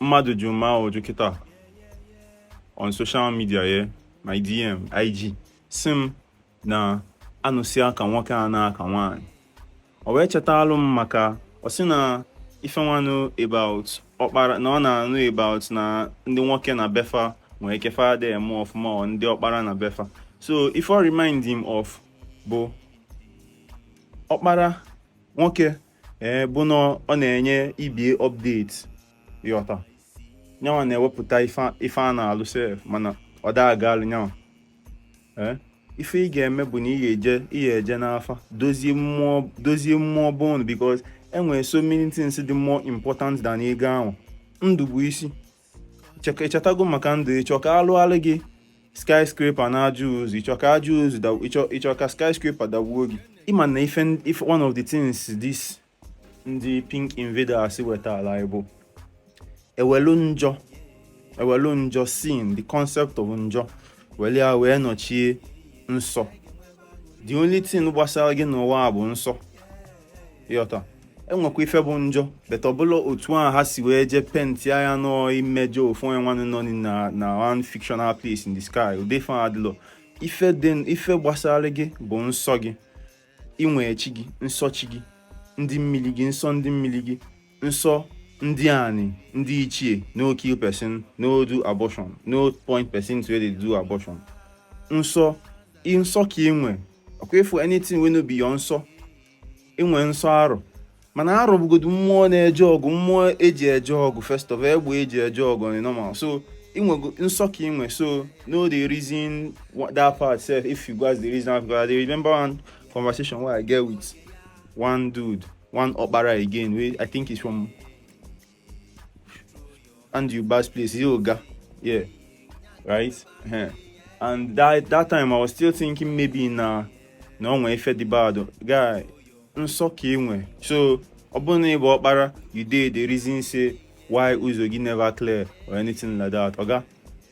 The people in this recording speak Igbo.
mmadụ jụrụ m ajụjụ kịta on social media ya my DM IG sị m na anụsị aka nwoke a na-aka nwaanyị o wee chetalụ m maka ọ sị na ife nwanụ about ọkpara na ọ na-anụ about na ndị nwoke na be fa nwee ike fa ada eme ọfụma ọ ndị ọkpara na be fa so ife ọ remind him of bụ ọkpara nwoke ee bụ na ọ na-enye ibie update ịghọta nyanwa na-ewepụta ife a na-alụ sef mana ọ daa agalụ nyanwa ee ife ị ga-eme bụ na ị ga-eje ị ga-eje n'afa dozie mmụọ dozie mmụọ bond because enwere so many things dị more important than ego ahụ ndụ bụ isi ichetago maka ndụ ịchọ ka a lụalụ gị skyscraper na aja ozu ịchọ ka aja ozu ịchọ ka skyscraper dagbuo gị ịma na ife one of the things this ndị pink invaders wetara anyị bụ ewelu njọ ewelu njọ sin the concept of njọ were ya wee nọchie nsọ the only thing gbasara gị n'ụwa a bụ nsọ ịghọta enwekwa ife bụ njọ but ọ bụlọ otu a ha si wee jee penti ya n'ọ imejọ ofu onye nwanụ nọ na na one fictional place in the sky ụdị ife adịlọ ife dị ife gbasara gị bụ nsọ gị inwe chi gị nsọ chi gị ndị mmili gị nsọ ndị mmili gị nsọ ndị ani ndị ichie no kill person no do abortion no point person to where they do abortion nsọ nsọ ka ị nwe ọkwa ịfụ anything wey no be your nsọ ịnwe nsọ arụ mana arụ bụgodu mmụọ na-eje ọgụ mmụọ eji eje ọgụ first of all egbe eji eje ọgụ on normal so inwe nsọ ka inwe so no dey reason that part sef if you guys dey reason I remember one conversation wey I get with one dude one okpara again wey i think is from andy ubas place he oga yeah right yeah. and that that time i was still thinking maybe na na onwe ife dị bad guy nsọ ka enwe so ọ bụrụ na ịbụ ọkpara you dey the reason say why ụzọ gị never clear or anything like that oga